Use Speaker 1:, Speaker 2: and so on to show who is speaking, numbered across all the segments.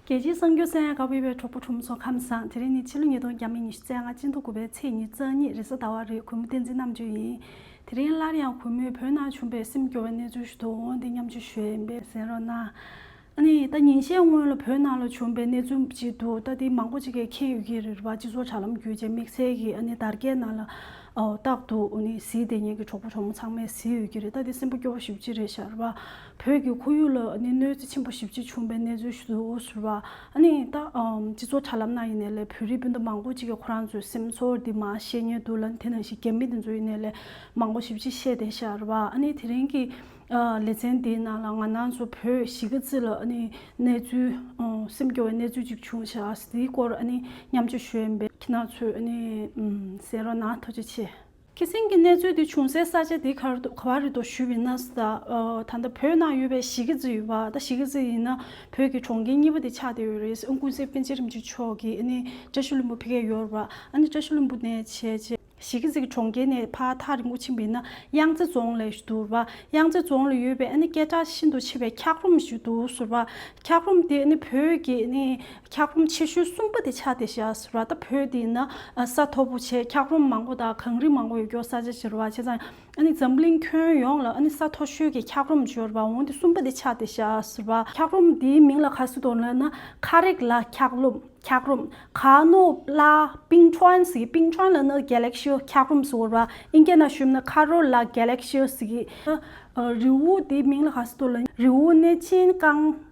Speaker 1: རྒྱལ་སྤྱིའི་གསར་འགྱུར་གསལ་ཡང་དགའ་བོད་པའི་གྲོགས་པོ་གྲུབ་མཚོ་ཁམས་བཟང་དེ་རིང་ནི་ཕྱི་ལོ་ཉིས་སྟོང་བརྒྱ་མེད་ཉི་ཤུ་རྩེག་ལྔ་སྤྱི་མདོ་དགུ་པའི་ཚེས་ཉེར་གཙང་ཉིན་རེས་གཟའ་ཟླ་བ་རེད་གུས་མོ་བསྟན་འཛིན་རྣམ་དཔྱོད་ཡིན། དེ་རིང་སླར་ཡང་གུས་མོས་བོད་ནང་བྱུང་པའི་སེམས་སྐྱོ་བའི་གནས་ཚུལ་ཞུ་དོགས་འོང་སྟེ་མཉམ་ཆུ་ཞོས་ཡིན་པས་ཟེར་རོགས་གནང། ད་ཉིན་ཤས་སྔོན་ལ་བོད་ནང་ལ་བྱུང་པའི་གནས་ཚུལ་ཅིག་འདུག་ད་དེ་མང་པོ་ཅིག་གིས་མཁྱེན་ཡོད་ཀྱི་རེད་རེད་བ་སྤྱི་ཚོགས་དྲ་ལམ་བརྒྱུད་ཅེས་དམིགས་བསལ་གྱིས་དར་རྒྱས་ནང་ལ་བཏགས་འདུག་གཟི་བདེ་ཉལ་གྱི་གྲོགས་པོ་གྲོགས་མོ་ཚང་མས་གཟིགས་ཡོད་ཀྱི་རེད་ད་དེ་སེམས་པོ་སྐྱོ་བོ་ཞིག་ཅི་རེད་ཤར་བ། བོད་ཀྱི་ཁོར་ཡུག་ལ་གནོད་འཚེ་ཆེན་པོ་ཞིབ་ཅིང་ཆུང་པའི་གནས་ཚུལ་ཞིག་ཏུ་གྱུར་པ། སྤྱི་ཚོགས་དྲ་ལམ་ནང་ཡིན་ནས་ལས་བོད་རིགས་སྤུན་ཟླ་མང་པོ་ཅིག་གིས་ཁོ་རང་ཚོའི་སེམས་ཚོར་འདི་མ་བཤད་ཉེས་འདུག་ལ་དེ་ནང་བཞིན་རྒྱ་མི་འདི་ཚོ་ཡིན་ནས་ལས་མང་པོ་ཞིབ་ཅིང་ཤེས་ལྡན་ཤར་བ། དེ་རིང་གི་ལེ་ཚན་འདིའི་ནང་ལ་ང་ནང་ཚོ་བོད་གཞིས་ཀ་རྩེ་ལ་གནས་ཚུལ་སེམས་སྐྱོ་བའི་གནས་ཚུལ་ཅིག་བྱུང་ཞག་དེའི་སྐོར་མཉམ་སྤྱོད་ཞུ་འོས་པའི་ཁྱེད་ནང་ཚོས་གསན་རོགས་གནང་ཐུགས་རྗེ་ཆེ། ཁྱི་སེང་གི་གནས་ཚུལ་དེ་བྱུང་སའི་ས་ཆ་དེ་གར་དུ་ག་བ་རི་དོ་ཞུས་པའི་ན་ཟུ་དང། ད་ལྟ་བོད་ནང་ཡོད་པའི་ཞི་ཁི་ཛི་ཡོད་པ་ད་ཞི་ཁི་ཛི་ཡིན་ན་བོད་ཀྱི་གྲོང་ཁྱེར་གཉིས་པ་དེ་ཆགས་བསྡད་ཡོད་རེད་ཀུན་གསལ་པན་ཆེ་རིན་ཆེན་མཆོག་གིས་ནི་བཀྲ་ཤིས་ལྷུན་པོ་ཕི་ཁའི་ཡོར་བ་ནི་བཀྲ་ཤིས་ལྷུན་པོ་ནས་བྱས་རྗེས། ཞི་ཁི་ཛི་གི་གྲོང་ཁྱེར་ནས་ཕ་ཐག་རིང་པོ་ཕྱིན་པའི་ན་གཡང་རྩེ་རྫོང་ལས་བསྡུར་བ་གཡང་རྩེ་རྫོང་ལ་ཡོད་པའི་ནི་སྐད་གྲགས་ཤིན་ཏུ་ཆེ་བའི་འཁྱགས་རོམ་ཞིག་འདུག་ཟུར་བ་འཁྱགས་རོམ་དེ་ནི་བོད་ཀྱི་ནི་འཁྱགས་རོམ་ཆེ་ཤོས་གསུམ་པ་དེ་ཆགས་ཏེ་བཞག་ར་ད་བོད་དེ་ན་ས་མཐོ་པོ་ཆེ་འཁྱགས་རོམ་མང་པོ་དང་གངས་རི་མང་པོ་ཡོད་སྐྱོར་ས་ཆ་བྱེར་བ་ཆེ་ཚང་ཨ་ནི་འཛམ་གླིང་ཁྱོན་ཡོངས་ལ་ཨ་ནི་ས་མཐོ་ཤོས་ཀྱི་འཁྱགས་རོམ་བྱོར་བ་འོང་དེ་གསུམ་པ་དེ་ཆགས་ཏེ་བཞག་ར་འཁྱགས་རོམ་དེའི་མིང་ལ་ག་ཟེར་དོ་ལབ་ན་ཁ་རེག་ལ་འཁྱགས་རོམ་འཁྱགས་རོམ་ག་ནོ་ལ་པིང་ཁྲོན་ཟེར་གི་པིང་ཁྲོན་ལ་ནི་གྷལ་ལེག་ཤི་འཁྱགས་རོམ་ཟེར་བ་ཨིན་སྐད་ན་ཞུབ་ན་ཁ་རོ་ལ་གྷལ་ལེག་ཤི་ཟེར་གི། རི་བོ་དེའི་མིང་ལ་ག་ཟེར་དོ་ལབ་ན་རི་བོ་ནི་ཅིན་ཀང།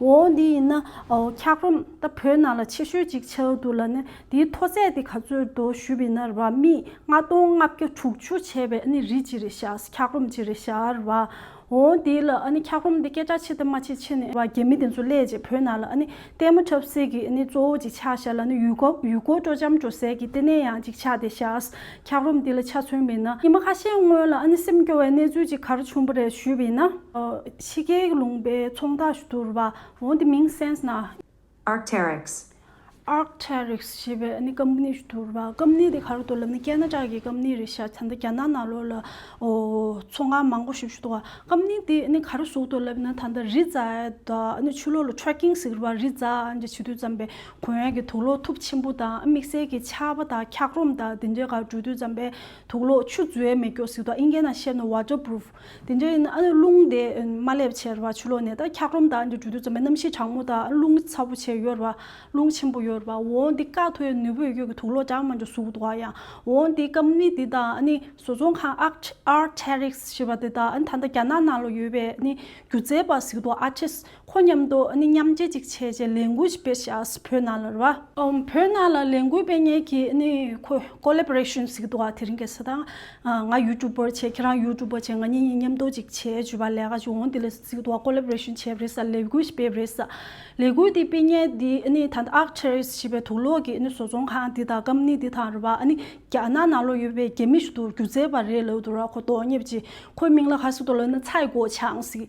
Speaker 1: འོ་འདི་ཡིན་ན་འཁྱགས་རོམ་ད་བོད་ནང་ལ་ཆེ་ཤོས་གཅིག་ཆགས་འདུག་ལ་ནི་དེའི་མཐོ་ཚད་དེ་ག་ཚོད་འདུག་ཞུས་པའི་ན་རྦ་མིས་ལྔ་སྟོང་ལྔ་བརྒྱ་དྲུག་ཅུ་བྱས་པའི་ཨ་ནི་རི་གཅིག་རེད་བྱ་འཁྱགས་རོམ་གཅིག་རེད་བྱ་རྦ་འོ་འདི་ལ་ཨ་ནི་འཁྱགས་རོམ་འདི་སྐད་གྲགས་ཆེ་དང་མ་ཆེ་ཆེ་ནས་རྦ་རྒྱ་མི་དེ་ཚོ་སླེས་རྗེས་བོད་ནང་ལ་ཨ་ནི་ལྟད་མོ་འཁྲབ་སེ་གི་ཨ་ནི་གཙོ་བོ་གཅིག་ཆགས་བྱ་ལ་ནི་ཡུལ་སྐོར་ཡུལ་སྐོར་སྤྲོ་འཆམ་འགྲོ་སའི་གི་ལྟེ་གནས་ཡང་གཅིག་ཆགས་དེ་བྱ་འཁྱགས་རོམ་འདི་ལ་ཆ་མཚོན་མེད་ན། ཉི་མ་ཁ་ཤས་སྔོན་ལ་ཨ་ནེ་སེམས་སྐྱོ་བའི་གནས་ཚུལ་ཅིག་གར་བྱུང་བ་རེད་ཞུས་པ་ཡིན་ན། ཕྱི་རྒྱལ་གྱི་ལུང་པའི་ཚོང་བདག་ཞུ་དུར་བ་འོ་འདི་མིང་སེནས་ན། Arc'teryx། Arc'teryx ཞེས་པའི་ཨ་ནེ་སྐམ་སྣི་ཞུ་དུར་བ་སྐམ་སྣི་དེ་ག་རུ་འདུག་ལབ་ན་ཀན་ན་ཀྲག་གི་སྐམ་སྣི་རེད་ཤག་ཚ་མདའ་རྒྱ་ནག་ནག་ལོ་ལ་ཚོང་ཁང་མང་པོ་ཞིག་ཞུ་དུར་བ་སྐམ་སྣི་དེ་ཨ་ནེ་ག་རུ་ཟུག་འདུག་ལབ་ན་ད་ལྟ་རི་རྫ་ཨ་ནེ་ཆུ་ལོག་ལ Tracking ཟིག་རུ་བ་རི་རྫ་འདྲ་བྱེད་དུས་བརྩམས་པའི་བོན་ཡིག་གི་དུག་ལོག་ཐུབ་ཆེན་པོ་དང་དམིགས་བསལ་གྱི་ཕྱག་དཔའ་དང་འཁྱགས་རོམ་དང་དེ་འདྲའི་གར་འགྲོ་དུས་འཇམ་པའི་དུག་ལོག་ཆུ་རྫུའི་མེ་སྒྱོགས་ཟིག་དང་ཨིན་སྐད་ནང་བཤད་ནོ Waterproof དེ་འདྲའི་ཡིན་ན་རླུང་དེ་མ་སླེབས་ཕྱིར་བ་ཆུ་ལོག་ནས་དང་འཁྱགས་རོམ་དང་འདྲ་འགྲོ་དུས་འཇམ་པའི་གནམ་གཤིས་གྲང་མོ་དང་རླུང་ཚ་པོ་ཆེ་ཡོད་རེད་བ། རླུང་ཆེན་པོ་ཡོད་རེད་བ་འོང་དེ་སྐག་ཐོའི་ནུས་པོས་གཡོས་ཀྱི་དུག་ལོག་གྲང་མ་འདྲ་ཟུག་འདུག་བ་ཡང་འོང་དེ་སྐམ་ནི་དེ་དང་བཟོ་ཚོང་ཁང Arc'teryx ཞེས་པ་དེ་དང་ད་ལྟ་རྒྱ་ནག་ནང་ལ་ཡོད་པའི་སྒྱུ་རྩལ་པ་ཟིག་དང Artist ཁོ་མཉམ་དུ་ནི་མཉམ་རྗེས་ཅིག་བྱས་ཅེས་ལས་འགུལ་ཞིག་སྤེལ་བྱས་བོད་ནང་ལ་རུ་བ། བོད་ནང་ལ་ལས་འགུལ་སྤེལ་ཉེས་ཀྱིས་ནི་ཁོས Collaboration ཞིག་འདུག་དེ་རིང་གི་ས་དང། ང YouTuber བྱས་ཁྱེད་རང YouTuber བྱས་ང་གཉིས་གཉིས་མཉམ་དུ་ཅིག་བྱས་བྱུས་པ་ལས་ཀ་ཅིག་འོང་དེ་ལས་ཞིག་འདུག Collaboration བྱས་པ་རེད་ས་ལས་འགུལ་ཞིག་སྤེལ་བ་རེད་ས། ལས་འགུལ་དེ་སྤེལ་ཉེས་འདི་ནི་ད་ལྟ Arcturus ཞེས་པའི་དུག་ལོག་གི་ནི་བཟོ་ཚོང་ཁང་འདི་དང Company འདི་དང་རུ་བ་ནི་རྒྱ་ནག་ནང་ལ་ཡོད་པའི་རྒྱ་མི་ཞིག་ཏུ་སྒྱུ་རྩལ་བ་རེད་ལོས་དུ་ར་ཁོ་དོག་ཉེས་པ་ཅིག་ཁོའི་མིང་ལ་ག་ཞིག་ཏུ་ལོས་ན་ཚའི་གོ་ཆང་ཞིག་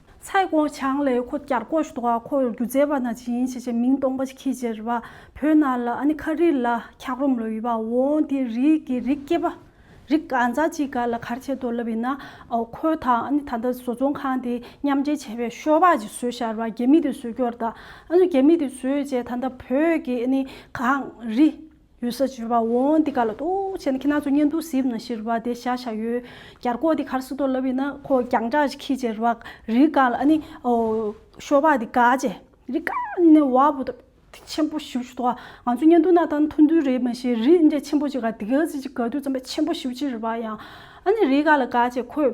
Speaker 1: ཚའེ་ཀོང་ཆང་ལས་ཁོ་བསྐྱར་བསྐོ་ཞུ་དོགས་ཁོ་རྒྱུ་རྫས་པ་ན་ཇི་ཡིན་ཞེས་བྱས་མིང་སྟོང་པ་ཞིག་ཁྱི་རྗེ་རི་བ་བོད་ན་ལ་ཨ་ནི་ཁ་རིས་ལ་འཁྱག་རོམ་ལོ་ཡི་བ་འོང་དེ་རིགས་ཀྱི་རིགས་སྐྱེས་པ་རིགས་ག་ཛ་ཅིག་ག་ལ་གར་བྱེད་དོ་ལབ་ཡིན་ན་ཁོ་དང་ཨ་ནི་ད་ལྟ་བཟོ་ཚོང་ཁང་དེ་མཉམ་འབྲེལ་བྱས་པའི་ཤོ་བག་ཅིག་བཟོས་ཤར་བ་རྒྱ་མི་དེ་བཟོས་སྐྱོར་ད་ཨ་ནི་རྒྱ་མི་དེ་བཟོས་རྗེས་ད་ལྟ་བོད་ཀྱི་ཨ་ནི་གངས་རི། ཡོད་ས་བྱོལ་བ་འོང་འདི་ག་ལ་ལྟོག་བྱས་ན་ཁྱེད་རྣམས་ཚོ་གཉེན་དུ་སིབ་ན་ཤིར་བ་དེ་ཤ་ཤ་ཡོད་གར་ཁོག་དེ་གར་སུ་ཏོ་ལབ་ཡིན་ན་ཁོ་རྒྱང་གྲགས་ཅིག་ཁྱི་བྱེར་བ་རི་ག་ལ་ཨ་ནི་ཤོ་བ་དེ་ག་བྱེ་རི་ག་ནས་བ་བུ་ཏོ་དེ་ཆེན་པོ་ཤིབ་ཤུ་ཏོག་ང་ཚོ་གཉེན་དུ་ན་ཐང་ཐུ་འདུལ་རེད་མ་ཤེས་རི་འདྲེ་ཆེན་པོ་ཅིག་ག་དེ་ག་ཟིག་ཅིག་ག་དུས་ཙམ་པ་ཆེན་པོ་ཤིབ་བྱེར་བ་ཡང་ཨ་ནི་རི་ག་ལ་ག་བྱེ་ཁོས་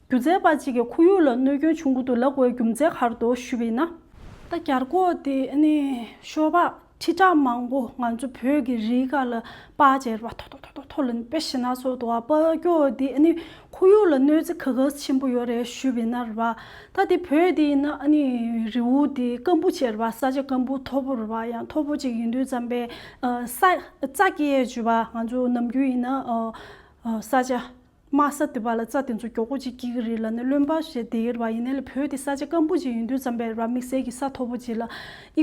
Speaker 1: སྒྱུ་རྩལ་པ་གཅིག་གི་ཁོར་ཡུག་ལ་གནོད་སྐྱོན་བྱུང་གི་འདུག་ལ་སྒོའི་རྒྱུ་མཚན་ཁར་དུ་ཞུ་བས་ན། ད་གར་གོ་དེ་ནི་ཤོ་བག་ཁྲི་ཕྲག་མང་པོ་ང་ཚོ་བོད་ཀྱི་རིའི་ཁ་ལ་པ་ཅེར་བ་ཐོ་ཐོ་ཐོ་ཐོ་ཐོ་ལ་པེ་ཤི་ན་སོ་དོ་བ་པ་ཀྱོ་དེ་ནི་ཁོར་ཡུག་ལ་གནོད་འཚེ་ག་གཱས་ཆེན་པོ་ཡོད་རེད་ཞུ་བས་ན་རེད་བ། ད་དེ་བོད་དེ་ཡིན་ན་ནི་རི་བོ་དེ་སྐམ་པོ་ཅེར་བ་ས་ཆ་སྐམ་པོ་མཐོ་པོ་རེད་བ་ཡང་མཐོ་པོ་ཅིག་ཡིན་དུས་བརྩམས་པའི་ས་ས་སྐྱེས་ཅུ་བ་ང་ཚོ་ནམ་རྒྱུན་ཡིན་ན་ས་ཆ། དམའ་ས་དེ་བ་ལ་རྩྭ་དེ་ཚོ་མགྱོགས་པོ་ཅིག་སྐྱེ་གི་རེད་ལ་ནི་བློན་པ་ཞེས་དེའི་རེ་བ་ཡིན་ནའི་ལ་བོད་དེ་ས་ཆ་སྐམ་པོ་ཅིག་ཡིན་དུས་རྩམ་པའི་ར་མི་བཟད་ཀྱི་ས་མཐོ་པོ་ཅིག་ལ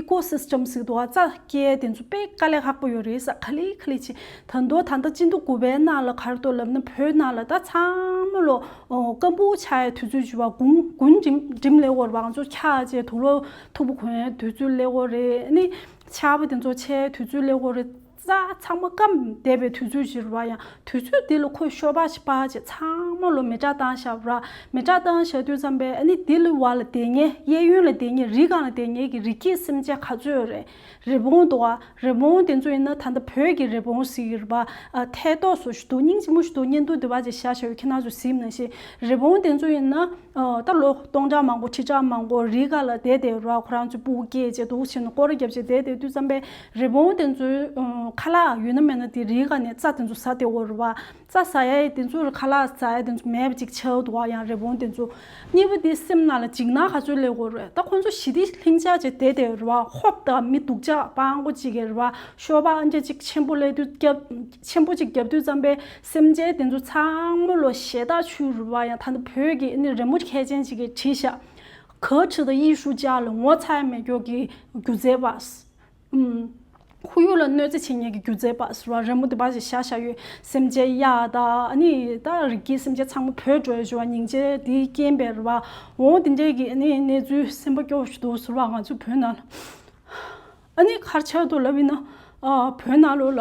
Speaker 1: Eco System ཟིག་འདུག་ཨ་རྩྭ་སྐྱེ་དེ་ཚོ་དཔེ་དཀའ་ལས་ལྷག་པོ་ཡོད་རེད་ས་ཁ་ལིག་ཁ་ལིག་ཅིག་ད་མདོ་ད་ལྟ་སྤྱི་མདོ་དགུ་པའི་ནང་ལ་གར་འདོད་ལབ་ན་བོད་ནང་ལ་ད་ཚང་མ་ལོ་སྐམ་པོ་ཆགས་ཡའི་དུས་ཚོད་བྱུ་བ་དགུང་དགུན་འགྲིམ་ལེ་ཧོར་བང་མཛོད་འཁྱག་བཅས་དུག་ལོ་འཐུག་པོ་གོན་ཡའི་དུས་ཚོད་ལེ་ཧོར་རེད་ནི་ཆར་པ་དེ་ཚོ་ཆའི་དུས་ཚོད་ལེ་ཧོར་རེད། རྩྭ་ཚང་མ་སྐམ་བསྡད་པའི་དུས་ཚོད་ཞིག་རོལ་བ་ཡང་དུས་ཚོད་འདི་ལ་ཁོས་ཤོ་པ་ཞིག་པ་ཞིག་ཚང་མ་ལོ་མི་གྲངས་སྟངས་བཞག་རོགས། མི་གྲངས་སྟངས་བཞག་དུས་ཙམ་པས་ཨ་ནི་འདི་ལ་བ་ལ་བསྡད་ཉེ་གཡས་གཡོན་ལ་བསྡད་ཉེ་རི་གང་ལ་བསྡད་ཉེ་གི་རི་སྐྱེས་སེམས་ཅན་ག་ཚོད་རེད། རི་བོང་དོ། རི་བོང་དེ་ཚོ་ཡིན་ན་ད་ལྟ་བོད་ཀྱི་རི་བོང་ཟིག་ཡོད་རེད་པ། ཐད་ཐོག་སུ་ཞུ་དུག་སྙིང་ཅིག་མོ་ཞུ་དུག་གཉེན་དུག་དེ་བ་ཅིག་བཞག་བཞག་ཡོད་ཁྱི་ནག་ཚོས་གཟིགས་མནོ་ཞིག་རི་བོང་དེ་ཚོ་ཡིན་ན། ད་ལོ་སྟོང་ཕྲག་མང་པོ་ཁྲི་ཕྲག་མང་པོ་རི་ག་ལ་བསྡད་དེ་རོགས་ཁོ་རང་ཚོའི་སྤུ་གུ་སྐྱེས་རྗེས་དུག་ཆེན་དུ་སྐོར་བརྒྱབ་རྗེས་བསྡད་དེ་དུས་བརྩམས་པའི་རི་བོང་དེ་ཚོའི་ཁ་ལག་ཡུལ་ན་མེད་ན་དེ་རི་ག་ནས་རྩྭ་དེ་ཚོ་ཟ་དེ་འོ་རུ་བ། རྩྭ་ཟ་ཡ་ཡི་དེ་ཚོའི་ཁ་ལག་ཟ་ཡ་དེ་ཚོ་མེད་པ་ཅིག་ཆགས་འདུག་ཨ་ཡང་རི་བོང་དེ་ཚོ་གཉིས་པོ་དེ་སེམས་ན་ལ་འཇིགས་སྣང་ག་ཚོད་སླེབས་འོ་རུ་ད་ཁོ་ཚོ་ཞི་བདེ་ལྷིང་འཇགས་ཅིག་བསྡད་དེ་རུ་བ་ཧོབ་ད་མི་སྡུག་ཅག་པང་གོ་ཅིག་གི་རུ་བ་ཤོ་པ་ཨ་མཆན་ཅིག་ཆེན་པོ་ལས་དུས་བརྒྱབ་ཆེན་པོ་ཅིག་བརྒྱབ་དུས་བརྩམས་པའི་སེམས་ཅན་དེ་ཚོ་ཚང་མོ་ལོ་ཞེ་བདག་ཆུ་རུལ་བ་ཡང་ད་ནི་བོད་ཀྱི་ནི་རི་མོ་མཁས་ཅན་ཅིག་གིས་བྲིས་ཤག་ག་ཁྲི་དང་ཡིག་ཧྲུག་ཅག་ལ་ངོ་ཚ་ཡ་མེད་སྐྱོ་གི་སྒྱུ་རྩལ་པ། ཁོ་ཡུག་ལ་གནོད་འཚེ་བྱེད་ཉེས་ཀྱི་སྒྱུ་རྩལ་པ་ཟེར་བ་རི་མོ་འདི་པ་ཞིག་བཞག་ཤག་ཡོད་སེམས་ཅན་གཡག་དང་ནི་ད་རིགས་ཀྱི་སེམས་ཅན་ཚང་མོ་བོད་བྲོས་བྱོལ་བ་ཉིན་བྱེད་དེའི་རྐྱེན་པས་རེད་བ་འོང་དེ་འདྲའི་གི་ནི་གནས་ཚུལ་སེམས་པ་སྐྱོ་བོ་ཞིག་འདུག་ཟེར་བ་ང་ཚོའི་བོད་ནང་ལ་ཨ་ནི་ཁར་ཆགས་འདུག་ལབ་ཡིན་ན་བོད་ནང་ལོ་ལ།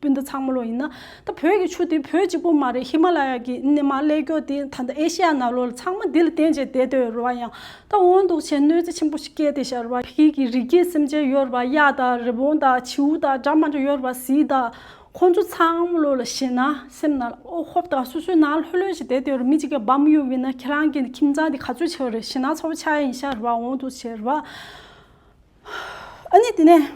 Speaker 1: སྤུན་ཟླ་ཚང་མ་ལོ་ཡིན་ན། ད་བོད་ཀྱི་ཆུ་དེ་བོད་གཅིག་པོ་མ་རེད་ཧི་མ་ལ་ཡ་གྱི་སྣེ་མང་ཀླད་ཀྱོག་དེ་ད་ལྟ་ཨེ་ཤི་ཡ་ནག་ལོ་ལ་ཚང་མ་དེ་ལ་བརྟེན་བྱས་བསྡད་སྡོད་རུ་བ་ཡང་ད་འོང་འདུག་བྱས་གནོད་འཚེ་ཆེན་པོ་ཞིག་སྐྱེས་ཏེ་ཤར་བ་ཤིག་གི་རི་སྐྱེས་སེམས་ཅན་ཡོད་རུ་བ་གཡག་དང་རི་བོང་དང་བྱིའུ་དང་སྦྲ་མ་འདྲ་ཡོད་རུ་བ་ཟི་དང། ཁོ་ཚོ་ཚང་མ་ལོ་ལ་བྱས་ན་སེམས་ནང་ལ་ཨོ་ཧོབ་དང་སོ་སོའི་ནང་ལྷོད་ལྷོད་བྱས་བསྡད་སྡོད་རུ་མི་གཅིག་གི་བམ་གཡུག་བས་ན་ཁྱེད་རང་གི་ཁྱིམ་ཚང་དེ་ག་ཚོད་ཆེ་བ་རེད་བྱས་ན་ཚོ་བ་ཆ་ཡིན་ཤར་བ་འོང་འདུག་བྱས་རུ་བ། ཨ་ནི་དེ་ནས་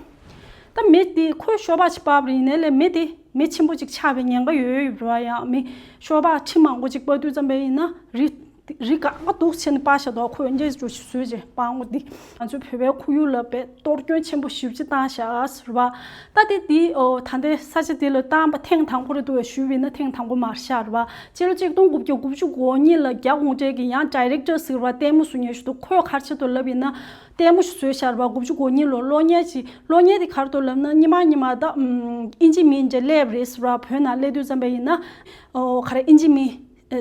Speaker 1: ད་མི་དེ་ཁོའི་ཤོ་བག་ཅིག་སྤར་བ་ཡིན་ནའི་ལས་མི་དེ་མི་ཆེན་པོ་ཅིག་ཆགས་པའི་ཉེན་ཁ་ཡོད་ཡོད་རེད་བ་ཡང་མི་ཤོ་བག་ཁྲི་མང་པོ་ཅིག་སྤར་དུས་རྩམ་པའི་ཡིན་ན་རི་རི་ག་ང་དུག་ཆེན་པ་ཞེས་དོག་ཁོས་འགྱེལ་བྱུ་ཞིག་བཟོས་རྗེས་སྤར་ངོ་དེ་ང་ཚོའི་བོད་པའི་ཁོར་ཡུག་ལ་བས་གཏོར་སྐྱོན་ཆེན་པོ་ཞིབ་ཅིག་བཏང་ཤག་རེད་བ། ད་དེ་དེ་ད་ལྟའི་ས་ཆ་དེ་ལ་བཏང་པ་ཐེངས་དང་པོ་རེད་འདུག་བས་ཞུ་བས་ན་ཐེངས་དང་པོ་མར་ཤག་རེད་བ། སྤྱི་ལོ་གཅིག་སྟོང་དགུ་བརྒྱ་དགུ་བཅུ་གོ་གཉིས་ལ་རྒྱ་གུང་བྲལ་གྱི་ཡང Director ཟེར་བ་ལྟད་མོ་བཟོ་ཉེ་ཞུ་འདུག་ཁོས་ཁར་ཆེད་དུ་ལབ་ཡིན་ན། ལྟད་མོ་ཞིག་བཟོས་ཤར་བ་དགུ་བཅུ་གོ་གཉིས་ལོར་གློག་བརྙན་ཞིག་གློག་བརྙན་དེ་གར་དུ་ལབ་ན་གཉིད་མ་གཉིད་མ་བལྟ། ཨིན་ཇི་མིན་ཇེ་ལེབ་རེས་ར་བོད་ནང་སླེབས་དུས་བརྩམས་པ་ཡིན་ན། ཁ་རས་ཨིན་ཇི་མིན།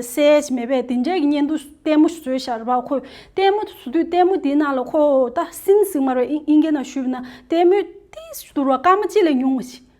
Speaker 1: སེལ། མེད་པས་དེ་འདྲའི་གཉེན་དུ་ལྟད་མོ་ཞིག་བཟོས་ཤར་བ་ཁོས་ལྟད་མོ་དེ་བཟོ་དུས་ལྟད་མོ་དེའི་ནང་ལ་ཁོས་ད་སིན་སིང་མར་བའི་ཨིན་སྐད་ནང་ཞུས་པ་ན་ལྟད་མོས་ཏིས་ཞེས་བསྡུར་བ་སྐར་མ་གཅིག་ལས་ཉུང་བ་ཞིག།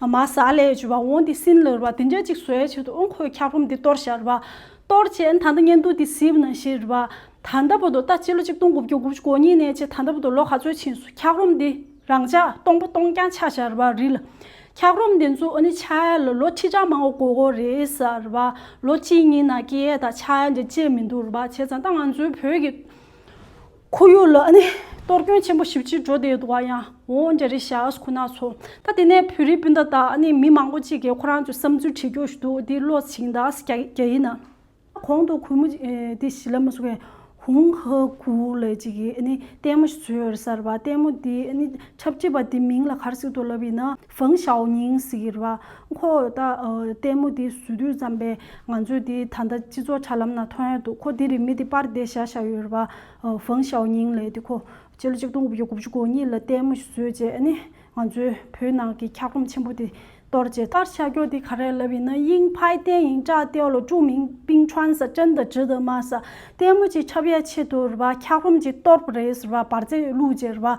Speaker 1: ཨ་མ་ཟ་ལས་བྱོས་པ་འོང་དེ་སྲིན་ལོར་བ་དེ་འདྲ་ཅིག་བཟོས་བྱས་དུ་འོང་ཁོས་འཁྱག་རོམ་དེ་གཏོར་བྱ་རུ་བ། གཏོར་བྱས་ད་ལྟ་གཉན་དུག་དེ་སྲིད་ན་ཤི་རུ་བ། ད་ལྟ་བུ་དོ་ལྟ་སྤྱི་ལོ་ཆིག་སྟོང་དགུ་བརྒྱ་དགུ་བཅུ་གོ་གཉིས་ནས་བྱས་ད་ལྟ་བུ་དོ་ལོ་ག་ཚོད་ཕྱིན་སོང་འཁྱག་རོམ་དེ་རང་ཅག་སྟོང་པོ་སྟོང་རྐྱང་ཆགས་བྱ་རུ་བ་རི་ལ། འཁྱག་རོམ་དེ་ཚོ་ཨོ་ནི་ཆ་ཡ་ལ་ལོ་ཁྲི་ཕྲག་མང་བོ་གོ་གོ་རེད་ཟ་རུ་བ། ལོ་གཅིག་གཉིས་ན་སྐྱེ་ཡས་དང་ཆ་ཡ་འདྲ་བཅས་མི་འདུག་རུ་བ་བྱས་ཙང་ད་ང་ཚོའི་བོད་ཀྱི། ཁོར་ཡུག་ལ་གཏོར་སྐྱོན་ཆེན་པོ་ཞིབ་ཕྱིར་འགྲོ་བསྡད་ཡོད་འདུག་བ་ཡང་འོང་རྒྱ་རི་ཤཱགས་ཁོ་ན་ཚོ། ད་དེ་ནས་བོད་རིགས་སྤུན་ཟླ་དང་མི་མང་པོ་གཅིག་གིས་ཁོ་རང་ཚོའི་བསམ་ཚུལ་བྲིས་འགྱོ་ཞུ་འདུག་འདི་བློ་ཆིངས་དང་རྒྱ་ཡིག་ནང། གོང་དུ་གུས་མོ་དེ་ཞི་ལ་མ་སུ་ཀའི་ཧུང་ཧ་གུ་ལའི་གཅིག་གིས་ལྟད་མོ་ཞིག་བཟོས་ཡོད་རེད་གསར་པ་ལྟད་མོ་དེས་འཁྲབ་ཁྲིད་པ་དེ་མིང་ལ་གར་ཟིག་ཏུ་ལབ་ཡིན་ན། ཧྥང་ཞའོ་ཉིང་ཟེར་གི་རེད་བ། ཁོ་ད་ལྟད་མོ་དེ་ཟུར་དུས་ཙམ་པས་ང་ཚོའི་དེ་ད་ལྟ་སྤྱི་ཚོགས་ཆ་ལམ་ན་ཐོན་ཡོད་འདུག་ཁོ་དེ་རིང་མི་དེ་པར་བསྡད་བཞག་བཞག་ཡོད་རེད་བ། ཧྥང་ཞའོ་ཉིང་ལས་དེ་ཁོ་སྤྱི་ལོ་གཅིག་སྟོང་དགུ་བརྒྱ་དགུ་བཅུ་གོ་གཉིས་ལ་ལྟད་མོ་ཞིག་བཟོས་རྗེས་ནི་ང་ཚོའི་བོད་ནང་གི་འཁྱག་རོམ་ཆེན་པོ་དེ་གཏོར་རྗེས། ལྟར་བྱ་རྒྱུ་དེ་ག་རེ་ལབ་ཡིན་ན་དབྱིང་ཕའི་ཏན་ཡིང་ཏྲ་ཏའོ་ལོ་ཀྲུའུ་མིང་པིང་ཁྲོན་ས་ཅན་ད་ཇི་ད་མ་ས་ལྟད་མོ་ཅིག་ཁྱབ་ཡ་ཆེད་དུ་རེད་བ་འཁྱག་རོམ་ཅིག་གཏོར་གི་རེད་ཟེར་བ་པར་རྩེ་བླུགས་རྗེས་རེད་བ།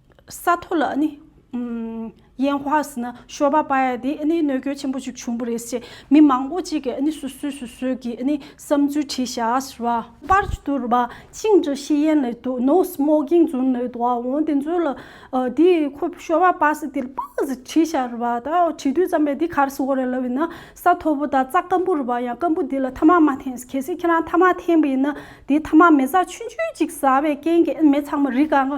Speaker 1: ས་མཐོ་ལ་ནི། ཡན་བྷ་ཧས་ནི་ཤོ་བ་པ་ཡ་དེ་ནི་གནོད་སྐྱོན་ཆེན་པོ་ཞིག་བྱུང་བ་རེད་ཅེས་མི་མང་པོ་གཅིག་གིས་ནི་སོ་སོས་སོ་སོའི་གི་ནི་བསམ་ཚུལ་བྲིས་བཞག་ལ། པར་བསྡུར་བ་ཅིང་ཀྲི་ཤི་ཡན་ལི་ཏུ་ནོ་སི་མོ་གིང་ཛུན་ལི་ཏུ་ཨའོ་དེ་ཚོས་ལ་དེ་ཁོ་ཤོ་བ་པ་སི་དེ་ལ་པ་ཟི་བྲིས་བཞག་རེད་བ་ད་བྲིས་དུས་ཙམ་པས་དེ་གར་སི་འོ་རེད་ལབ་ཡིན་ན་ས་མཐོ་པོ་དང་རྩ་སྐམ་པོ་རེད་བ་ཡང་སྐམ་པོ་དེ་ལ་ཐ་མག་མ་འཐེན་གལ་སྲིད་ཁྱེད་རང་ཐ་མག་འཐེན་པ་ཡིན་ན་དེ་ཐ་མག་མེ་བཟའ་ཆུན་ཆུན་ཅིག་བཟའ་བའི་རྐྱེན་གྱིས་མེ་ཚང་མ་རི་ག་ང་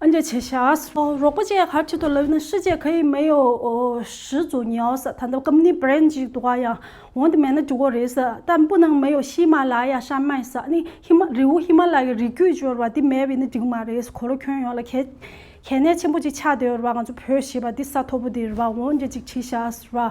Speaker 1: ཨ་མྱེས་ཆེ་ཤཱས། རོགས་པ་ཅེས་ཧར་ཆེ་ཏུ་ལབ་ན་ཧྲི་ཅེས་ཁ་ཡིག་མེ་ཡོ་ཧྲི་ཛུ་ཉའོ་ཟ་ད་ནྡ་ཀམ་ནི་བརེན་ཅིག་འདུག་ག་ཡང་འོང་དེ་མེད་ན་འགྲིག་གོ་རེད་ཟ་ད་སྤུ་ནང་མེ་ཡོ་ཤི་མ་ལ་ཡ་ཧྲ་མའི་ཟ་ནི་ཧི་མ་རི་བོ་ཧི་མ་ལ་ཡའི་རི་རྒྱུད་སྦྱོར་བ་འདི་མེད་བས་ནི་འགྲིག་མ་རེད་ཟ་གོ་རོ་ཁྱོད་ཡོང་ལ་གལ་གནད་ཆེན་པོ་ཅིག་ཆགས་འདོད་རེད་བ་ང་ཚོ་བོད་ཞེས་པ་འདི་ས་མཐོ་པོ་འདི་རེད་བ་འོང་རྒྱ་ཅིག་བྲིས་ཤཱས་རེད་བ།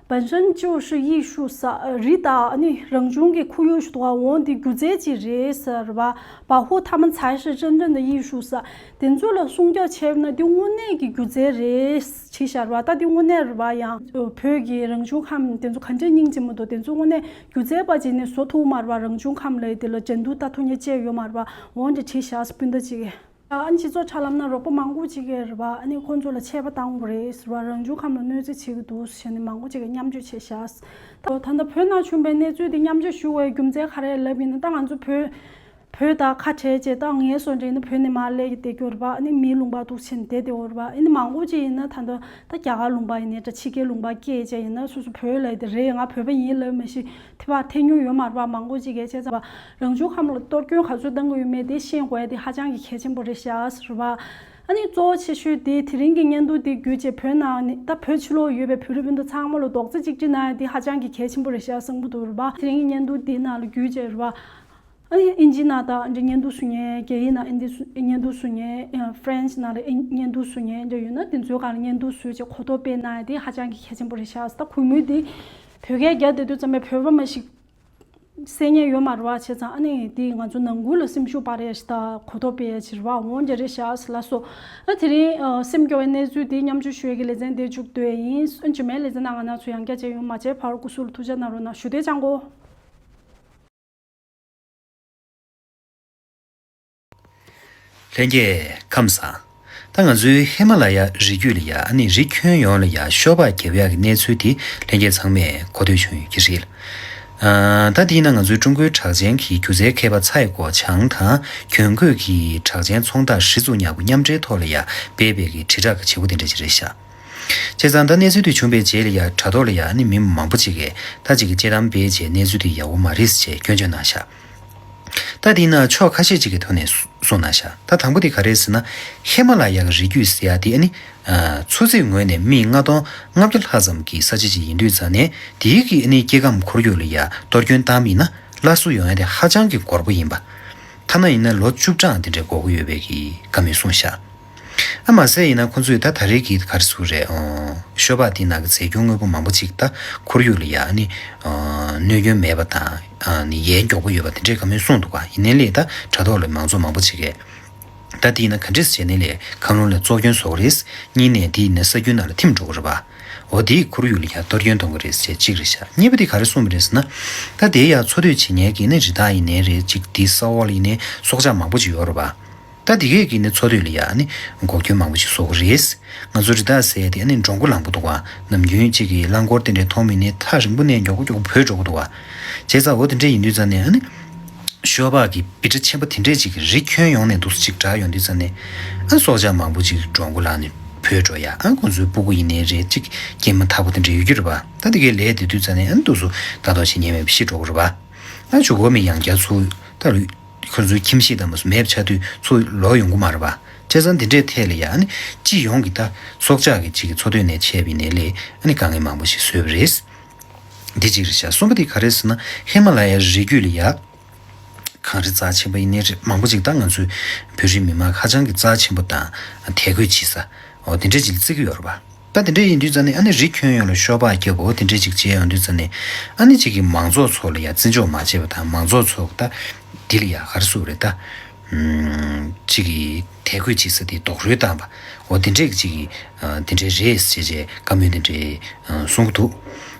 Speaker 1: བན་ཧྲན་ཅུའུ་ཧྲི་ཡིས་ཧྲུའུ་སཱ་རི་དང་ནི་རང་བྱུང་གི་ཁོར་ཡུག་ཞུ་དོགས་འོག་འོང་དེ་སྒྱུ་རྩལ་གྱི་རེས་གཟར་བ་བ་ཧུའུ་ཐ་མན་ཚའེ་ཧྲི་ཅན་ཀྲེན་ཏེ་ཡིས་ཧྲུའུ་སཱ་དེ་ཚོ་ལ་སྲུང་སྐྱོབ་བྱས་པས་ན་དེ་དངོས་གནས་ཀྱི་སྒྱུ་རྩལ་རེས་བྱེད་གཞར་བ་དང་དེ་དངོས་གནས་བ་ཡང་བོད་ཀྱི་རང་བྱུང་ཁམས་དེ་ཚོ་ག་འདྲའི་སྙིང་རྗེ་མོ་དང་དེ་ཚོ་དངོས་གནས་སྒྱུ་རྩལ་བ་བྱས་ནས་བཟོ་ཐུབ་མར་བ་རང་བྱུང་ཁམས་ལ་དེ་ལ་འགྲན་བསྡུར་ལྟ་ཐུབ་ཉེ་བཅས་ཡོད་མར་བ་འོང་དེ་བྱེད་གཞར་སྤུན་ཟླ་གཅིག་ཨང་སྤྱི་ཚོགས་ཆ་ལམ་ན་རོགས་པ་མང་པོ་ཅིག་གིས་རེད་པ་ཨ་ནི་ཁོ་ཚོ་ལ་ཆད་པ་བཏང་གི་རེད་ཟེར་བ་རང་བྱུང་ཁམས་ལ་གནོད་འཚེ་བྱེད་ཀྱི་འདུག་ཟེར་ནས་མང་པོ་ཅིག་གིས་མཉམ་སྤྱོད་བྱས་ཤག་ད་ལྟ་བོད་ནང་བྱུང་པའི་གནས་ཚུལ་དེ་མཉམ་སྤྱོད་ཞུ་བའི་རྒྱུ་མཚན་ག་རེ་ལབ་ཡིན་ད་ང་ཚོ་བོད་དང་ཁ་བྲལ་རྗེས་ད་ངའི་བཟོ་འདྲེ་ནི་བོད་ནས་མར་ལས་ཀྱི་བསྡད་རྒྱུ་རེད་པ་ཨ་ནི་མིའི་ལུང་པ་དུག་ཆེན་དེ་དེའོ་རེད་པ་ཨ་ནི་མང་པོ་ཅིག་ཡིན་ན་ད་ལྟ་ད་རྒྱ་གར་ལུང་པ་ཡིན་ནས་ད་ཕྱི་རྒྱལ་ལུང་པ་སྐད་ཅེས་ཡིན་ན་སོ་སོ་བོད་ལས་དེ་རེད་ང་བོད་པ་ཡིན་ལབ་མི་ཤེས་ཐི་བ་ཐེ་ཉུང་ཡོད་མ་རེད་པ་མང་པོ་ཅིག་གིས་དཔྱད་རྩ་རང་བྱུང་ཁམས་ལ་གཏོར་སྐྱོན་ག་ཚོད་བཏང་དགོས་ཡོད་མེད་དེ་ཤེས་དགོས་དེ་ཧ་ཅང་གི་གལ་ཆེན་པོ་རེད་ཤག་རེད་བ། ཨ་ནི་གཙོ་བོ་ཆེ་ཤོས་དེ་དེ་རིང་གི་བརྙན་ཐུང་དེ་བརྒྱུད་རྗེས་བོད་ནང་ནས་ད་བོད་ཕྱི་ལོག་ཡོད་པའི་བོད་རིགས་སྤུན་ཟླ་ཚང་མ་ལ་རྡོག་རྩེ་གཅིག་སྒྲིལ་གནང་ཡ་དེ་ཧ་ཅང་གི་གལ་ཆེན་པོ་རེད་ཤག་གསུང་གི་འདུག་རེད་བ། དེ་རིང་གི་བརྙན་ཐུང་དེ་ནང་ལ་བརྒྱུད་རྗེས་རེད་བ། ཨ་ནི་དབྱིན་ཇི་ནང་དང་འདྲ་བརྙན་ཐུང་བཟོ་མཁན་རྒྱ་ཡིག་ནང་ཨིན་དི་བརྙན་ཐུང་བཟོ་མཁན French ནང་ལ་བརྙན་ཐུང་བཟོ་མཁན་འདྲ་ཡོད་ན་དེ་ཚོའི་སྒང་ལ་བརྙན་ཐུང་བཟོས་རྗེས་གོ་རྟོགས་སྤེལ་གནང་ཡ་དེ་ཧ་ཅང་གི་གལ་ཆེན་པོ་རེད་ཤག་ད་གུས་མོས་དེ། བོད་སྐད་རྒྱ་དེ་དོན་ཙམ་པའི་བོད་པ་མ་ཞིག། སེམས་ཉེན་ཡོད་མ་རེད་བ་བྱས་ཙང་ཨ་ནི་དེས་ང་ཚོ་ནང་ཁུལ་ལ་སེམས་ཤུགས་སྤར་ཡས་ད་གོ་ཐོབ་པའི་ཕྱིར་བ་འོང་རྒྱ་རེད་བྱས་ཨ་ལ་སོ། དེ་རིང་སེམས་སྐྱོ་བའི་གནས་ཚུལ་དེ་མཉམ་བྱོས་ཞོལ་གྱི་ལེ་ཚན་འདེད་བཅུག་འདོད་ཡིན་སོན་ཇི་མའི་ལེ་ཚན་ནང་ང་ནག་ཚོ་ཡང་བསྐྱར་བྱས་ཡོང་མ་བྱས་བར་སྐུ་སུ་ལ་ཐུགས་བཅག་གནང་རོགས་གནང་ཞུ་དེ་ཅང་གོ།
Speaker 2: ལྷན་རྒྱས་ཁམས་བཟང། ད་ང་ཚོའི་ཧི་མ་ལ་ཡ་རི་རྒྱུད་ལ་ཡ་ནི་རི་ཁྱོན་ཡོངས་ལ་ཡ་ཤོ་པ་རྒྱལ་བོ་ཡག་གི་གནས་ཚུལ་དེ་ལྷན་རྒྱས་ཚང་མས་གོ་ཐོས་བྱུང་ཡོད་ཀྱི་རེད། ད་དེས་ན་ང་ཚོའི་ཀྲུང་གོའི་གྲགས་ཅན་གྱི་སྒྱུ་རྩལ་མཁས་པ་ཚའེ་གོ་ཆང་དང་གྱོན་གོས་ཀྱི་གྲགས་ཅན་ཚོང་བདག་ཧྲི་ཙུ་ཉག་གུ་མཉམ་འབྲེལ་ཐོག་ལ་ཡ་སྦས་སྦས་ཀྱི་དྲིལ་བསྒྲགས་ཀྱི་བྱེད་སྒོ་དེ་འདྲ་ཅིག་རེད་ཤག། བྱས་ཙང་ད་གནས་ཚུལ་དེ་བྱུང་པའི་རྗེས་ལ་ཡ་དྲ་ཐོག་ལ་ཡ་ནི་མི་མང་པོ་ཅིག་གིས་ད་ཅིག་གི་དཔྱད་གཏམ་སྦས་རྗེས་གནས་ཚུལ་དེ་ཡག་བོ་མ་རེད་ཟེར་ཆེད་སྐྱོན་བརྗོད་གནང་ཤག། ད་འདི་ན་ཕྱོགས་ཁ་ཤས་ཅིག་གི་ཐོག་ནས་གསུངས་ན་ཤ་ད་དང་པོ་དེ་ག་རེད་ཟེར་ན། ཧེ་མ་ལ་ཡ་གི་རི་རྒྱུད་ཟེར་ཡ་དེ་ནི། འཚོ་ཚིས་ངོས་ནས་མི་ལྔ་སྟོང་ལྔ་བརྒྱ་ལྷག་ཙམ་གི་ས་ཆ་ཅིག་ཡིན་དུས་རྩ་ནས་དེའི་གི་སྐྱེ་ཁམས་ཁོར་ཡུག་ལ་ཡ་གཏོར་སྐྱོན་བཏང་མིན་ན་སླར་གསོ་ཡོང་ཡ་དེ་ཧ་ཅང་གི་འགོར་པོ་ཡིན་པ། ཐ་ན་ཡིན་ན་ལོ་བཅུ་ཕྲག་འདི་འདྲའི་འགོར་གི་ཡོད་པའི་གི་ག་མི་གསུངས་ཤ། ཨ་མ་ཟེར་ཡིན་ན་ཁོ་ཚོས་ད་ད་རེས་ཀྱི་གར་སུ་རེད་ཨོ། ཤོ་པག་དེ་ནག་གི་ཟས་སྐྱོན་དངོས་པོ་མང་པོ་གཅིག་ད་ཁོར་ཡུག་ལ་ཡ་ཨ་ནི། གནོད་སྐྱོན་མེད་པ་དང་ནི་ཡའི་མགྱོགས་པོ་ཡོད་པ་དེ་འདྲས་ག་མོས་གསུངས་འདུག་ཡིན་ནའི་ལས་ད་དྲ་ཐོག་ལས་མང་ཚོགས་མང་པོ་བྱེད་གས། ད་དེ་ཡིན་ན་ག་འདྲས་བྱས་ནའི་ལས་ཁམས་ལུང་ལས་བཙོག་སྐྱོན་བཟོ་གི་རེད། གཉིས་ནས་དེ་ཡིན་ན་ས་རྒྱུན་ནང་ལ་ཐིམ་འགྲོ་གི་རེད་པ། འོ་དེས་ཁོར་ཡུག་ལ་ཡ་གཏོར་སྐྱོན་གཏོང་གི་རེད་ཟེར་གཅིག་རེད་ཤག་གཉིས་པ་དེ་ག་རེ་གསུངས་པ་རེད་ཟེར་ན། ད་དེའི་ཡ་འཚོ་སྡོད་བྱེད་ཉལ་གི་ནི་རི་དྭགས་ཡིན་ནའི་རེད་གཅིག་དེ་ས་འོག་ལ་ཡིན་ནའི་སྲོག་ཆགས་མང་པོ་ཅིག་ཡོད་རེད་པ། ད་དེ་གས་ཀྱི་ནི་འཚོ་སྡོད་ལ་ཡང་ནི་འགོག་རྒྱུན་མང་པོ་ཞིག་བཟོ་དགོས་རེད། ང་ཚོ་རི་དྭགས་བཟས་ཏེ་ནི་འགྲོ་མགོ་ལངས་པོ་འདུག་ནམ་རྒྱུན་གཅིག་གིས་རླངས་འཁོར་དེ་འདྲའི་མཐོང་མིན་ནི་ཐག་རིང་པོ་ནས་མགྱོགས་པོ་མགྱོགས་པོ་བུད་འགྲོ་གི་འདུག་བྱས་ཙང་འོ་དེ་འདྲས་ཡིན་དུས་ཙང་ནས་ནི་ཤོ་བག་གི་བི་ཏྲ་ཆེན་པོ་དེ་འདྲས་ཅིག་རི་ཁྱོན་ཡོངས་ནས་འདུག་ཅིག་གྲགས་ཡོང་དུས་ཙང་ནས་སྲོག་ཆགས་མང་པོ་ཅིག་འགྲོ་མགོ་ལངས་ནས་བུད་འགྲོ་ཡ་ཁོང་ཚོའི་སྤུ་གུ་ཡིན་ནི་རེད་ཅིག་སྐྱེས་མ་ཐག་པོ་དེ་འདྲས་ཡོད་རྒྱུ་རེད་བ་ད་དེ་གས་ལས་དེ་དུས་ཙང་ནས་ནི་འདུག་སུ་ད་དོགས་བྱེད་ཉན་མེད་པ་ཤི་འགྲོ་གི་རེད་བ་ད་ཇོ་ཀོ་མི་ཡང་རྒྱ་ཚུགས་ད་ལུས། ཁོ་ཚོའི་ཁྱིམ་གཞིས་དང་མ་སྲུ་མེད་ཆ་དུས་ཚོ་ལོག་ཡོང་གི་མ་རེད་པ། བྱས་ཙང་འདི་འདྲའི་ཐད་ལ་ཡང་སྤྱི་ཡོངས་ཀྱི་ད་སྲོག་ཆགས་ཀྱི་སྤྱི་ཀྱི་འཚོ་དོན་ནས་མཆེད་པའི་ནད་ལས་དཀའ་ངལ་མང་པོ་ཞིག་བཟོས་པ་རེད། འདི་གཅིག་རེད་བྱ། གསུམ་པ་དེ་ག་རེད་ཟེར་ན་ཧི་མ་ལ་ཡའི་རི་རྒྱུད་ལ་ཡག་གང་རེད་རྩ་ཆེན་པོ་ཡི་ནད་རིགས་མང་པོ་ཅིག་ད་ང་ཚོའི་བོད་རིགས་མི་དམངས་ཁ་བྱང་གི་རྩ་ཆེན་པོ་དང་དད་གུས་བྱེད་ས་འོ་འདི་འདྲ་ཅིག་ལ་བརྩི་གི་ཡོད་རེད་པ། ད་དེ་འདྲ་ཡིན་དུས་ཙང་ནི་ཨ་ནི་རི་ཁྱོན་ཡོངས་ལ་ཤོག་སྦག་རྒྱབ་བོ་དེ་འདྲ་ཅིག་བྱེད་ཡོང་དུས་ཙང་ནི་ཨ་ནི་ཅིག་གིས་མང་ཚོགས་ཚོ་ལ་ཡང་བརྩི་འཇོག་མ་བྱས་པ་དང་མང་ཚོགས་ཚོ་ད་འདི་ལ་ཡང་གར་སུ་རེད་ད། ཅིག་གིས་དད་གུས་ཅིག་ས་དེ་རྡོག་རུལ་བཏང་བ་འོ་དེ་འདྲས་ཅིག་དེ་འདྲས་རེད་ཟེར་བྱས་བཀའ་མོལ་དེ་འདྲས་གསུང་གི་འདུག་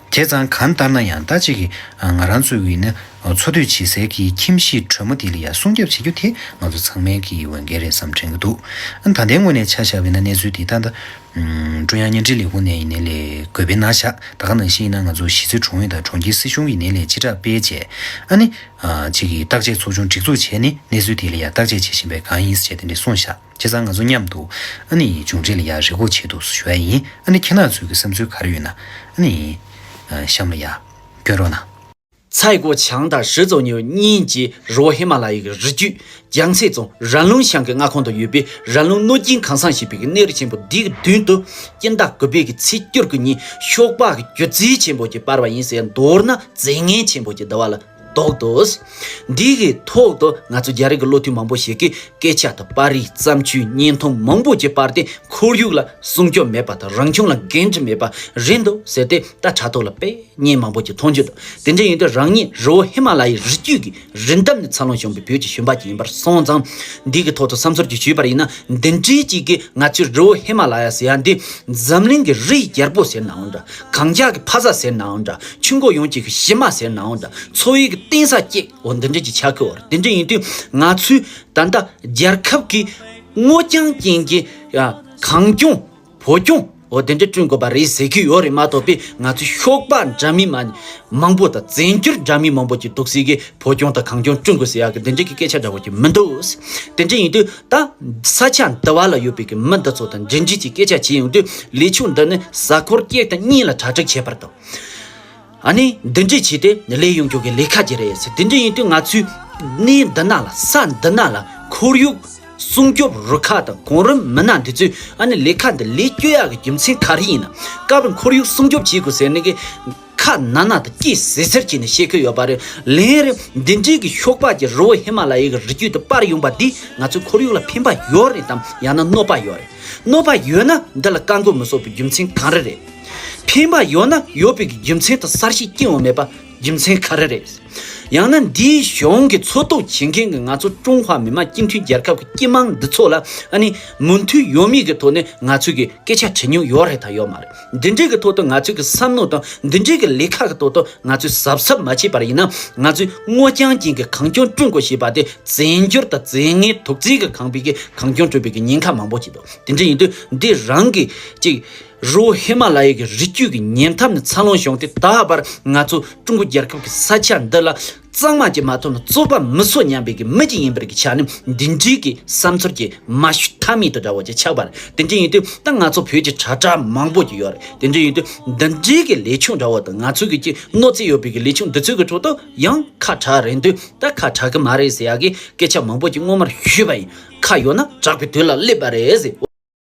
Speaker 2: བྱས་ཙང་གང་ལྟར་ན་ཡང་ད་ཅིག་གིས་ང་རང་ཚོ་ཡིན་ན་འཚོ་སྡོད་བྱེད་སའི་གི་ཁྱིམ་གཞིས་དྲོན་མོ་དེ་ལ་ཡང་སྲུང་སྐྱབས་བྱེད་རྒྱུ་དེ་ང་ཚོ་ཚང་མའི་གི་འོས་འགན་རེད་བསམ་དྲན་གི་འདུག་ད་དེ་སྔོན་ནས་ཆ་བཞག་པའི་ན་གནས་ཚུལ་དེ་ད་ད། ཀྲུང་དབྱང་བརྙན་འཕྲིན་ལས་ཁུངས་ནས་ཡིན་ནའི་ལས་བགོས་པའི་ནང་བཞག་ད་ག་ནང་བཞིན་ཡིན་ན་ང་ཚོ་གཞིས་རྩེ་གྲོང་ཨུད་དང་གྲོང་ཁྱེར་སྲིད་གཞུང་གིས་ནས་ལས་ཕྱིར་བསྒྲགས་སྤེལ་བྱས་ཨ་ནི། གཅིག་གིས་བརྟག་དཔྱད་ཚོགས་ཆུང་སྒྲིག་འཛུགས་བྱས་ནས་གནས་ཚུལ་དེ་ལ་ཡང་བརྟག་དཔྱད་བྱེད་བཞིན་པས་གང་ཡིན་བྱས་དེ་འདྲས་སོང་བཞག་བྱས་ཙང་ང་ཚོ་མཉམ་དུ་ཨ་ནི་མཇུག་འབྲས་ལ་ཡང་རེ་སྒུག་བྱེད་དུ་ཞུ་ཡ་ཡིན་ཨ་ནི་ཁྱེད་ནང་ཚོས་ཀྱི་བསམ་ཚུལ་ག་རེ་ཡོད་ན་ཨ་ནི། གཤམ་ལ་ཡང་བཀྱོན་རོགས་གནང། ཚའེ་གོ་ཆང་དང་ཧྲི་ཙོ་ཉིའུ་གཉིས་ཀྱི་རི་བོ་ཧི་མ་ལ་ཡི་གི་རི་རྒྱུད་རྒྱང་
Speaker 3: ཚད་རྫོང་རན་ལུང་ཞང་གི་མངའ་ཁོངས་དུ་ཡོད་པའི་རན་ལུང་གནོད་སྐྱིན་ཁང་བཟང་ཞེས་པའི་གནས་རི་ཆེན་པོ་འདིའི་མདུན་དུ་སྐྱིན་ཟླ་དགུ་པའི་གི་ཚེས་བསྐྱུར་གི་ཉིན་ཤོག་སྦག་གི་སྒྱུ་རྩིའི་ཆེན་པོ་གྱིས་སྤར་བ་ཡིན་ཟེར་མདོར་ན་རྫས་ངན་ཆེན་པོ་གྱི་བསྡུ་བ་ལ་གཏོགས་འདུག་འདི་གའི་ཐོག་ཏུ་ང་ཚོ་རྒྱ་རིགས་ཀྱི་བློ་མཐུན་མང་པོ་ཞིག་གིས་སྐད་ཆ་དང་པར་རིས་བརྩམས་ཆོས་བརྙན་ཐུང་མང་པོ་གྱིས་པར་ཏེ་ཁོར་ཡུག་ལ་སྲུང་སྐྱོབ་མེད་པ་དང་རང་བྱུང་ལ་འགན་འཁྲི་མེད་པ་རེད་འདུག་ཟེར་ཏེ་ད་དྲ་ཐོག་ལ་དཔེ། བརྙན་མང་པོ་ཅིག་མཐོང་རྒྱུ་འདུག་དེ་འདྲ་ཡིན་དུས་རང་ཉིད་རི་བོ་ཧི་མ་ལ་ཡའི་རི་རྒྱུད་ཀྱི་རི་འདབས་ནས་འཚར་ལོངས་བྱུང་བའི་བོད་ཀྱི་ཞུན་པ་ཅིག་ཡིན་པར་སོང་ཙང། འདི་གི་ཐོག་ཏུ་བསམ་ཚོར་ཅིག་ཞུས་པར་ཡིན་ན་འདི་འདྲའི་ཅིག་གིས་ང་ཚོས་རི་བོ་ཧི་མ་ལ་ཡ་ཟེར་ཡ་འདི་འཛམ་གླིང་གི་རི་ཡི་རྒྱལ་པོ་ཟེར་ནའང་འདྲ་གངས་འཁྱགས་ཀྱི་ཕ་ས་ཟེར་ནའང་འདྲ་ཆུ་འགོ་ཡོངས་ཀྱི་གཞི་མ་ཟེར་ནའང་འདྲ་འཚོ་བའི་གཏིང་ས་སྐྱེས་འོ་འདི་འདྲའི་ཅིག་ཆ་ཁོལ་བར་དེ་འདྲ་ཡིན་དུས་ང་ཚོའི་ད་ལྟ་རྒྱལ་ཁབ་ཀྱི་སྔོ་ལྗང་ཅན་གྱི་གངས་ལྗོངས། བོད་སྐྱོང་བོ་དེ་འདྲ་བསྐྲུན་དགོས་པ་རེད་ཟེར་གྱི་ཡོད་རེད་མ་གཏོགས་པའི་ང་ཚོའི་ཤོག་པ་འདྲ་མིན་མང་པོ་དང་བཙན་བྱོལ་འདྲ་མིན་མང་པོ་ཀྱི་འདུག་སྲིད་ཀྱི་བོད་སྐྱོང་དང་གང་སྐྱོང་བསྐྲུན་དགོས་ཟེར་ཡག་གི་འདི་འདྲ་གི་སྐད་ཆ་འདྲ་བོ་ཀྱི་མི་འདུག་དེ་འདྲ་ཡིན་དུས་ད་ས་ཆ་འདི་བ་ལ་ཡོད་པའི་གི་མི་འདི་ཚོ་དང་འབྲེལ་འདྲིས་ཀྱི་སྐད་ཆ་བྱས་ཡོང་དུས་ལས་ཕྱུག་འདི་ནི་གཟའ་འཁོར་སྐྱེས་དང་གཉིས་ལ་གྲ་སྒྲིག་བྱས་པར་དང། ཨ་ནི་འདི་འདྲས་བྱས་ཏེ་ལས་ཡོང་རྒྱུ་གི་ལས་ཁ་གྱེས་རེད་ཟེར་དེ་འདྲས་ཡིན་དུས་ང་ཚོས་གནས་འདི་ན་ལ་ས་འདི་ན་ལ་ཁོར་ཡུག་སྲུང་སྐྱོབ་རུ་ཁག་དང་གོང་རིམ་མི་སྣ་འདི་ཚོས་ཨ་ནི་ལས་ཁ་འདི་ལས་བསྐྱོད་ཡག་གི་རྒྱུ་མཚན་ག་རེ་ཡིན་ན་སྐབས་རེ་ཁོར་ཡུག་སྲུང་སྐྱོབ་བྱེད་དགོས་ཟེར་ནི་གི་ཁ་ན་ན་དུ་སྐྱེས་ཟེར་ཟེར་གྱིས་ནི་བཤད་ཁུལ་ཡོད་པ་རེད་ལན་རེ་འདི་འདྲས་ཀྱི་ཤོག་སྦག་གྱི་རི་བོ་ཧི་མ་ལ་ཡའི་གི་རི་རྒྱུད་དུ་སྤར་ཡོང་པ་འདིས་ང་ཚོའི་ཁོར་ཡུག་ལ་ཕན་པ་ཡོད་རེད་དམ་ཡང་ན་གནོད་པ་ཡོད་རེད་གནོད་པ་ཡོད་ན་འདི་ལ་བཀའ་འགོས་མི་བཟོ་པའི་རྒྱུ་མཚན་གང་རེ་རེད། ཕན་པ་ཡོད་ན་ཡོད་པའི་རྒྱུ་མཚན་དང་གསར་བཤད་སྐྱེ་འོ་མེད་པ་རྒྱུ་མཚན་ག་རེ་རེད། ཡང་ན་འདིའི་གཞུང་གི་འཚོལ་རྟོག་བྱེད་མཁན་གྱི་ང་ཚོ་ཀྲུང་ཧྭ་མི་དམངས་སྤྱི་མཐུན་རྒྱལ་ཁབ་ཀྱི་སྐྱི་དམངས་འདི་ཚོ་ལ་ཨ་ནི་མུ་མཐུད་ཡོད་མེད་ཀྱི་ཐོག་ནས་ང་ཚོས་ཀྱི་སྐད་ཆ་དྲི་ཉུང་ཡོད་རེད་དང་ཡོད་མ་རེད་འདི་འདྲའི་གྱི་ཐོག་ཏུ་ང་ཚོས་ཀྱི་བསམ་མནོ་དང་འདི་འདྲའི་གྱི་ལས་ཁ་གི་ཐོག་ཏུ་ང་ཚོས་གཟབ་གཟབ་མ་བྱས་པར་ཡིན་ན་ང་ཚོས་སྔོ་ལྗང་ཅན་གྱི་གངས་ལྗོངས་བསྐྲུན་དགོས་ཞེས་པ་དེ་བཙན་བྱོལ་དང་རྫས་ངན་དུག་རྫས་ཀྱི་ཁང་པའི་གྱི་གངས་ལྗོངས་བསྐྲུན་པའི་གྱི་ཉེན་ཁ་མང་པོ་ཅིག་འདུག་དེ་འདྲ་ཡིན་དུས་འདི་རང་གི་ཅིག། རི་བོ་ཧི་མ་ལ་ཡའི་རི་རྒྱུད་ཀྱི་ཉེ་འཐབ་ནས་འཚར་ལོངས་བྱུང་སྟེ་ད་བར་ང་ཚོ་ཀྲུང་གོ་རྒྱལ་ཁབ་ཀྱི་ས་ཆ་འདི་ལ་གཙང་མ་གཅིག་མ་ཐོན་ན་རྩོད་པ་མི་སོ་སྙམ་པའི་གི་མི་གཅིག་ཡིན་པར་གི་ཆ་ནས་འདི་འདྲིའི་གི་བསམ་ཚོར་གྱི་མ་ཞུ་མཐའ་མེད་དུ་འདྲ་བོ་ཅིག་ཆགས་པ་རེད་དེ་འདྲ་ཡིན་དུས་ད་ང་ཚོ་བོད་ཀྱི་དྲ་གྲགས་མང་པོ་ཅིག་ཡོད་རེད་དེ་འདྲ་ཡིན་དུས་འདི་འདྲིའི་གི་ལས་ཆུང་འདྲ་བོ་དང་ང་ཚོའི་གི་གཅིག་གནོད་འཚེ་ཡོད་པའི་གི་ལས་ཆུང་འདི་ཚོའི་གི་ཁྲོད་དུ་ཡང་ཁ་གྲགས་རན་དུས་ད་ཁ་གྲགས་གི་མ་རེད་ཟེར་ཡག་གི་སྐད་ཆ་མང་པོ་ཅིག་སྔོན་མར་ཞུས་པ་ཡིན་ཁ་ཡོད་ན་གྲགས་པའི་དུས་ལ་སླེབས་པ་རེད་ཟེར།